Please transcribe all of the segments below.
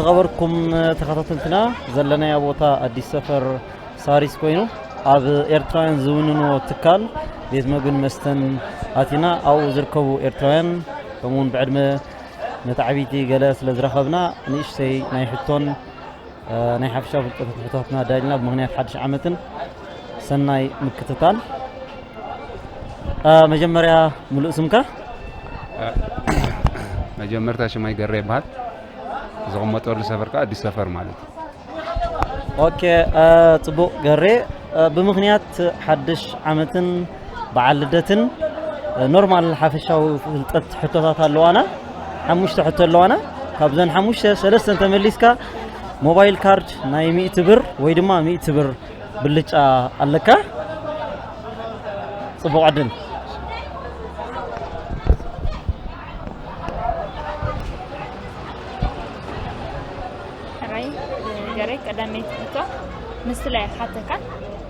ዝኸበርኩም ተኸታተልትና ዘለናዮ ቦታ ኣዲስ ሰፈር ሳሪስ ኮይኑ ኣብ ኤርትራውያን ዝውንንዎ ትካል ቤት መግብን መስተን ኣቲና ኣብኡ ዝርከቡ ኤርትራውያን ከምኡውን ብዕድመ መታዕቢቲ ገለ ስለ ዝረኸብና ንእሽተይ ናይ ሕቶን ናይ ሓፊሻዊ ፍልጠት ሕቶታትና ዳይልና ብምክንያት ሓድሽ ዓመትን ሰናይ ምክትታል መጀመርያ ሙሉእ ስምካ መጀመርታ ሽማይ ገረ ይበሃል ዝቕመጠሉ ሰፈር ከዓ ኣዲስ ሰፈር ማለት እዩ ኦኬ ፅቡቅ ገሬ ብምክንያት ሓድሽ ዓመትን በዓል ልደትን ኖርማል ሓፈሻዊ ፍልጠት ሕቶታት ኣለዋና ሓሙሽተ ሕቶ ኣለዋና ካብዘን ሓሙሽተ ሰለስተ ተመሊስካ ሞባይል ካርድ ናይ ሚእቲ ብር ወይ ድማ ሚእቲ ብር ብልጫ ኣለካ ጽቡቕ ዕድል ሕራይ ገረይ ቀዳመይቲ ሕቶ ምስላ ይሓተካ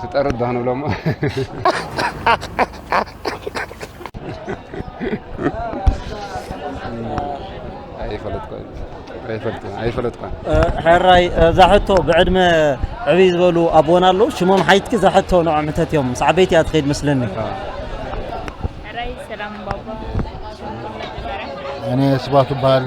ትጠርድ ዶ ክንብሎ እሞ ኣይፈለጥኩን ኣይፈልጥን ኣይፈለጥኩን ሕራይ እዛ ሕቶ ብዕድመ ዕብይ ዝበሉ ኣቦና ኣለዉ ሽሞም ሓይትኪ እዛ ሕቶ ንዖም ሕተት እዮም ምስ ዓበይቲ እያ ትኸይድ መስለኒ ሕራይ ሰላም ባባ እኔ ስባቱ በሃሊ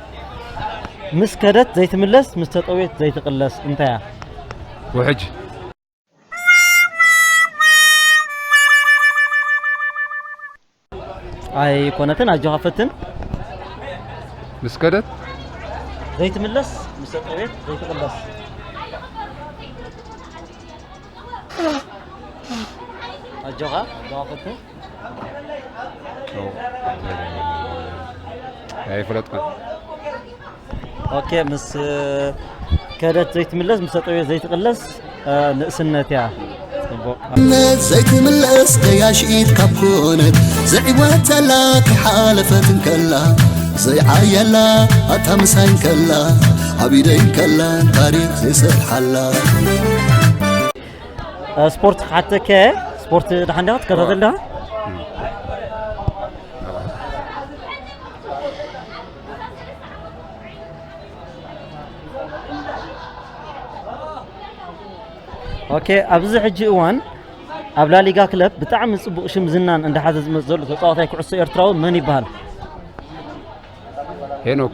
ምስ ከደት ዘይትምለስ ምስ ተጠውየት ዘይትቅለስ እንታያ ውሕጅ። ኣይኮነትን ኣጆኻ ፈትን ምስ ከደት ዘይትምለስ ምስ ተጠውየት ዘይትቅለስ ኣጆኻ ኣጆኻ ፈትን ኣይፍለጥኩን ኦኬ ምስ ከደት ዘይትምለስ ምስ ጠጠው ዘይትቕለስ ንእስነት እያ ፅቡቅ ነት ዘይትምለስ ገያሽ ኢድ ካብ ኮነት ዘዕወተላ ከይሓለፈት እንከላ ዘይዓየላ ኣታ ምሳይ እንከላ ዓቢደይ እንከላ ታሪኽ ዘይሰርሓላ ስፖርት ክሓተከ ስፖርት ድሓን ዲኻ ትከታተል ዲኻ ኦኬ ኣብዚ ሕጂ እዋን ኣብ ላሊጋ ክለብ ብጣዕሚ ጽቡቕ ሽም ዝናን እንዳሓዘ ዝመጽእ ዘሎ ተጻዋታይ ኩዕሶ ኤርትራዊ መን ይበሃል ሄኖክ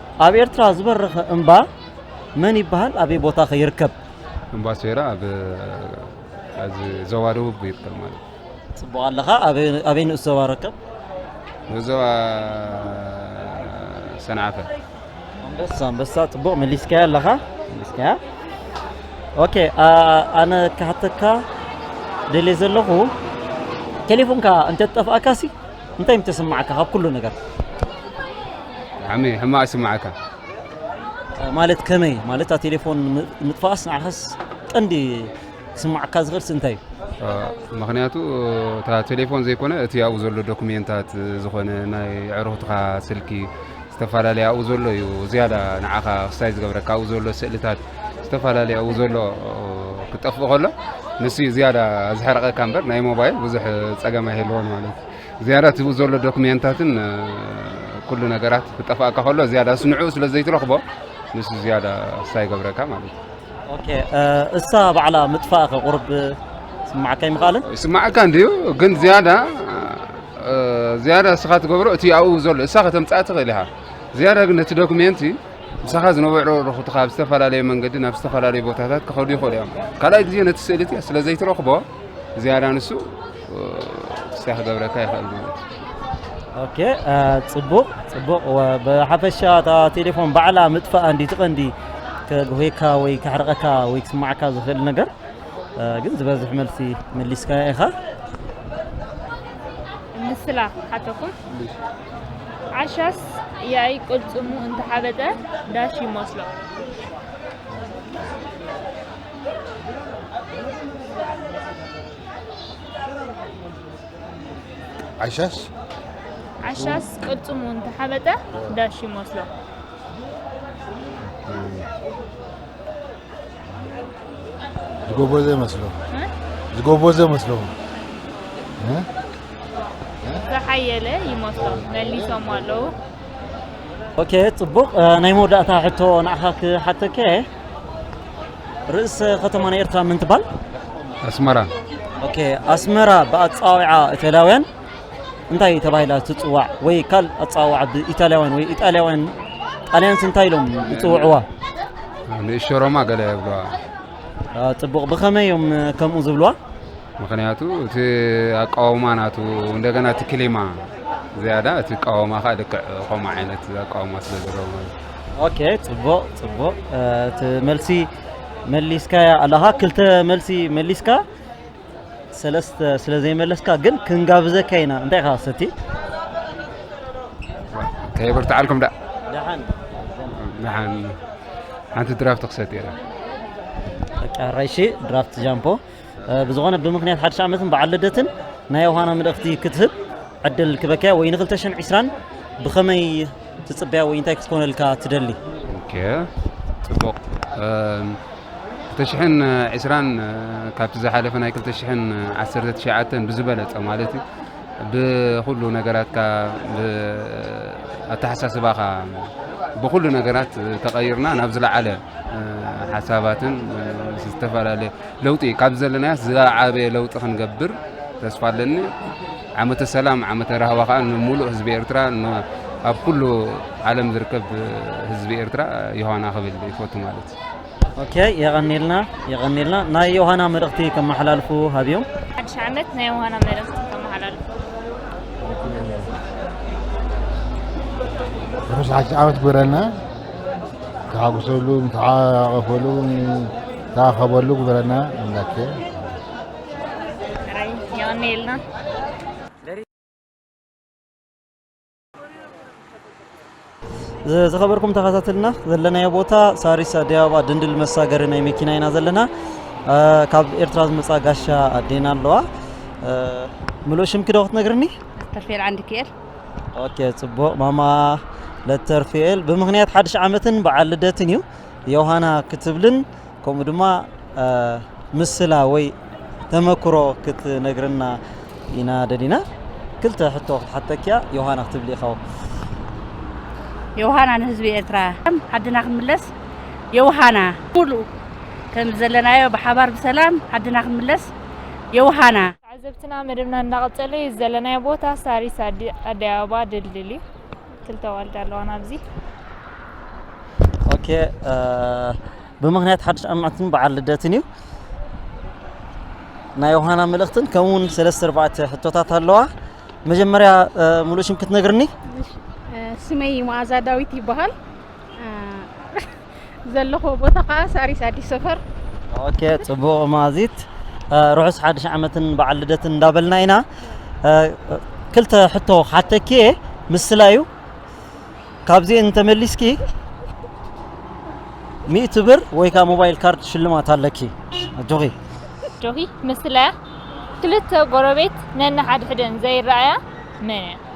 ኣብ ኤርትራ ዝበረኸ እምባ መን ይበሃል? ኣበይ ቦታ ከ ይርከብ? እምባ ሶይራ ኣብ ኣብዚ ዞባ ደቡብ ይርከብ ማለት እዩ። ጽቡቕ ኣለኻ። ኣበይ ኣበይ ንኡስ ዞባ ይርከብ? ንኡስ ዞባ ሰንዓፈ። ኣንበሳ ኣንበሳ ጽቡቕ መሊስካያ ኣለኻ መሊስካያ። ኦኬ ኣ- ኣነ ክሓተካ ደልየ ዘለኹ ቴሌፎንካ እንተትጠፍኣካሲ እንታይ ም ተስምዓካ ካብ ኩሉ ነገር? ብሓዕሚ ሕማቅ ይስምዓካ። ማለት ከመይ ማለት እታ ቴሌፎን ም- ምጥፋኣስ ንዓኻስ ቀንዲ ክስምዓካ ዝኽእልስ እንታይ እዩ? እ፣ ምክንያቱ እታ ቴሌፎን ዘይኮነ እቲ ኣብኡ ዘሎ ዶክሜንታት እ፣ ዝኾነ ናይ ኣዕሩኽትኻ ስልኪ ዝተፈላለየ ኣብኡ ዘሎ እዩ ዝያዳ ንዓኻ ክስታይ ዝገብረካ ኣብኡ ዘሎ ስእልታት ዝተፈላለየ ኣብኡ ዘሎ ክጠፍእ ከሎ ንሱ እዩ ዝያዳ ዝሕረቐካ እምበር ናይ ሞባይል ብዙሕ ፀገም ኣይህልዎን ማለት እዩ ዝያዳ እቲ ዘሎ ዶክሜንታትን ኩሉ ነገራት ክጠፍኣካ ከሎ ዝያዳ ንዕኡ ስለ ዘይትረኽቦ ንሱ ዝያዳ ክስታይ ይገብረካ ማለት እዩ ኦኬ እሳ ባዕላ ምጥፋእኺ ቁርብ ስማዓካ ኣይምኽኣልን? ይስማዓካ እንድዩ ግን ዝያዳ ዝያዳ እስኻ ትገብሮ እቲ ኣብኡ ዘሎ እሳ ከተምጽኣ ትኽእል ኢኻ ዝያዳ ግን ነቲ ዶክሜንቲ ምሳኻ ዝነበሩ ርኹትኻ ብዝተፈላለየ መንገዲ ናብ ዝተፈላለዩ ቦታታት ክኸዱ ይኽእሉ እዮም ካልኣይ ግዜ ነቲ ስእልቲ ስለ ዘይትረኽቦ ዝያዳ ንሱ ክሳይ ክገብረካ ይኽእል ኦኬ ፅቡቕ ፅቡቕ ብሓፈሻ እታ ቴሌፎን ባዕላ ምጥፋኣ እንዲ ትቐንዲ ከጉሄካ ወይ ከሕርቐካ ወይ ክስማዕካ ዝኽእል ነገር ግን ዝበዝሕ መልሲ መሊስካ ኢኻ ምስላ ሓተኩን ዓሻስ ያይ ቅልፅሙ እንተሓበጠ ዳሽ ይመስሎ ዓሻስ ዓሻስ ቅልፅሙ እንተሓበጠ ዳሽ ይመስሎ ዝጎበዘ መስሎ ዝጎበዘ መስሎ ዝሓየለ ይመስሎ መሊሶም ኣለዉ ኦኬ ፅቡቕ ናይ መወዳእታ ሕቶ ንዓኻ ክሓተከ ርእሰ ከተማ ናይ ኤርትራ መን ትባል? ኣስመራ። ኦኬ ኣስመራ ብኣጻዋውዓ ኢታልያውያን እንታይ ተባሂላ ትጽዋዕ ወይ ካል ኣጻዋውዓ ብኢታልያውያን ወይ ኢጣልያውያን ጣልያንስ እንታይ ኢሎም ይጽውዕዋ? ንእሾ ሮማ ገለ ይብልዋ። ጽቡቕ ብኸመይ እዮም ከምኡ ዝብልዋ? ምክንያቱ እቲ ኣቃውማ ናቱ እንደገና እቲ ክሊማ ዝያዳ እቲ ቃወማ ከዓ ልክዕ ከምኡ ዓይነት ኣቃውማ ስለ ዘለዎ ማለት እዩ ኦኬ ጽቡቅ ጽቡቅ እቲ መልሲ መሊስካያ ኣለኻ ክልተ መልሲ መሊስካ ሰለስተ ስለ ዘይመለስካ ግን ክንጋብዘካ ኢና እንታይ ኢኻ ሰቲ ከየበርትዓልኩም ዳ ደሓን ንሓን ሓንቲ ድራፍት ክሰት እየ ቃራይሺ ድራፍት ጃምፖ ብዝኾነ ብምኽንያት ሓድሽ ዓመትን በዓል ልደትን ናይ ዮሃና ምልእኽቲ ክትህብ ዕድል ክበክያ ወይ ንክልተ ሽሕን ዒስራን ብኸመይ ትጽበያ ወይ እንታይ ክትኮነልካ ትደሊ? ጽቡቕ ክልተ ሽሕን ዒስራን ካብቲ ዝሓለፈ ናይ ክልተ ሽሕን ዓሰርተ ትሽዓተን ብዝበለጸ ማለት እዩ ብኩሉ ነገራትካ ኣተሓሳስባኻ ብኩሉ ነገራት ተቐይርና ናብ ዝለዓለ ሓሳባትን ዝተፈላለየ ለውጢ ካብዚ ዘለናዮስ ዝዓበየ ለውጢ ክንገብር ተስፋ ኣለኒ። ዓመተ ሰላም ዓመተ ራህዋ ከዓ ንሙሉእ ህዝቢ ኤርትራ ኣብ ኩሉ ዓለም ዝርከብ ህዝቢ ኤርትራ ዮሃና ክብል ይፈቱ ማለት እዩ። ኦኬ የቀኒልና የቀኒልና ናይ ዮሃና መልእኽቲ ከመሓላልፉ ሃብዮም። ሓድሽ ዓመት ናይ ዮሃና መልእኽቲ ከመሓላልፉ ርሑስ ሓድሽ ዓመት ግበረልና። ተሓጉሰሉ፣ ተሓቀፈሉ ታኸበሉ ግበረና ኣምላኬ። የቀንየልና። ዝኸበርኩም ተኸታተልና ዘለናዮ ቦታ ሳሪስ ኣዲስ ኣበባ ድንድል መሳገሪ ናይ መኪና ኢና ዘለና ካብ ኤርትራ ዝመፃ ጋሻ ኣዴና ኣለዋ ምሉእ ሽምኪ ዶ ክትነግርኒ ተርፌል ዓንዲ ክኤል ኦኬ ፅቡቅ ማማ ለተርፌል ብምክንያት ሓድሽ ዓመትን በዓል ልደትን እዩ ዮሃና ክትብልን ከምኡ ድማ ምስላ ወይ ተመክሮ ክትነግርና ኢና ደሊና ክልተ ሕቶ ክትሓተኪያ ዮሃና ክትብሊ ኢኻው ዮሃና ንህዝቢ ኤርትራ ዓድና ክንምለስ ዮሃና ሙሉ ከም ዘለናዮ ብሓባር ብሰላም ዓድና ክንምለስ ዮሃና ተዓዘብትና መደብና እንዳቀጸለ እዩ ዘለናዮ ቦታ ሳሪስ ኣደይ ኣበባ ድልድል እዩ ክልተ ዋልዳ ኣለዋና ኣብዚ ኦኬ ብምክንያት ሓድሽ ኣማዕትን በዓል ልደትን እዩ ናይ ዮሃና መልእኽትን ከምኡ እውን ሰለስተ ኣርባዕተ ሕቶታት ኣለዋ መጀመርያ ሙሉእ ሽም ክትነግርኒ ስመይ መኣዛ ዳዊት ይበሃል ዘለኹዎ ቦታ ከኣ ሳሪስ ኣዲስ ሰፈር። ኦኬ ጽቡቕ ማዚት ርሑስ ሓድሽ ዓመትን በዓል ልደትን እንዳበልና ኢና ክልተ ሕቶ ሓተኪ እየ ምስላዩ ካብዚ እንተመሊስኪ ሚእቲ ብር ወይ ከዓ ሞባይል ካርድ ሽልማት ኣለኪ ኣጆኺ ጆኺ ምስላያ ክልተ ጎረቤት ነንሓድሕደን ዘይረኣያ መን እያ?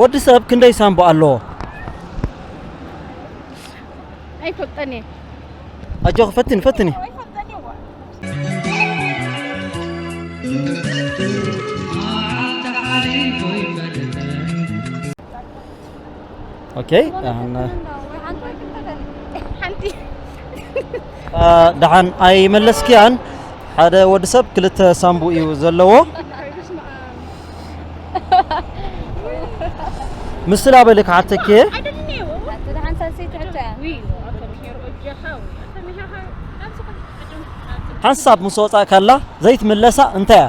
ወዲ ሰብ ክንደይ ሳንቡእ ኣለዎ? ኣይፈልጠን እየ። ኣጆኺ ፈትኒ ፈትኒ። ኦኬ ደሓን ኣይመለስክያን ሓደ ወዲ ሰብ ክልተ ሳምቡ እዩ ዘለዎ ምስላ በለ ክሓተኪ እየ ሓንሳብ ምስ ወፃእ ከላ ዘይትምለሳ እንታይ እያ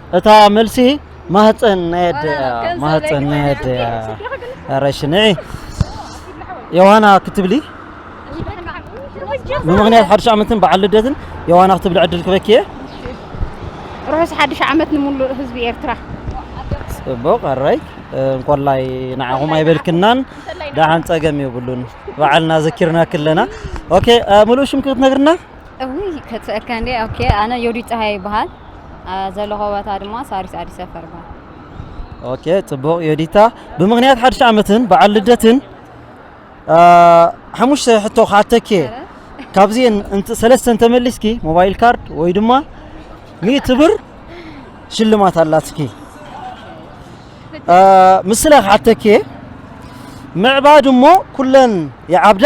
እታ መልሲ ማህፀን ናይ ኣደ እያ ማህፀን ናይ ኣደ እያ ኧረ እሺ ንዒ ዮሃና ክትብሊ ብምክንያት ሓድሽ ዓመትን በዓል ልደትን ዮሃና ክትብሊ ዕድል ክበኪ እየ ርሑስ ሓድሽ ዓመት ንምሉእ ህዝቢ ኤርትራ ጽቡቕ ኣራይ እንኮላይ ንዓኹም ኣይበልክናን ደሓን ጸገም የብሉን በዓልና ዘኪርና ክለና ኦኬ ሙሉእ ሽምኪ ክትነግርና እውይ ከትሰእካ እንዴ ኦኬ ኣነ ዮዲት ፀሃየ ይበሃል ዘለኾ ቦታ ድማ ሳሪስ ኣዲስ ሰፈር ይበሃል ኦኬ ጽቡቕ ዮዲታ ብምኽንያት ሓድሽ ዓመትን በዓል ልደትን ሓሙሽተ ሕቶ ክሓተኪ እየ ካብዚኤን እንት- ሰለስተ እንተመሊስኪ ሞባይል ካርድ ወይ ድማ ሚእቲ ብር ሽልማት ኣላትኪ አ፣ ምስላ ክሓተኪ እየ ምዕባድ እሞ ኩለን ይዓብዳ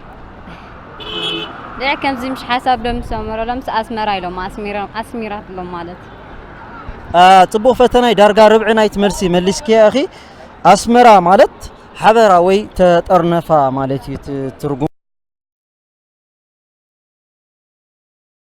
ዲዕ ከምዚ ምሽ ሓሳብ ዶ ምስ ኣመረሎምስ ኣስመራ ኢሎም ኣስሚራ- ኣስሚራት ኢሎም ማለት አ፣ ጽቡቕ ፈተናይ ዳርጋ ርብዒ ናይቲ መልሲ መሊስክያ ኢኺ ኣስመራ ማለት ሓበራ ወይ ተጠርነፋ ማለት እዩ እቲ ትርጉም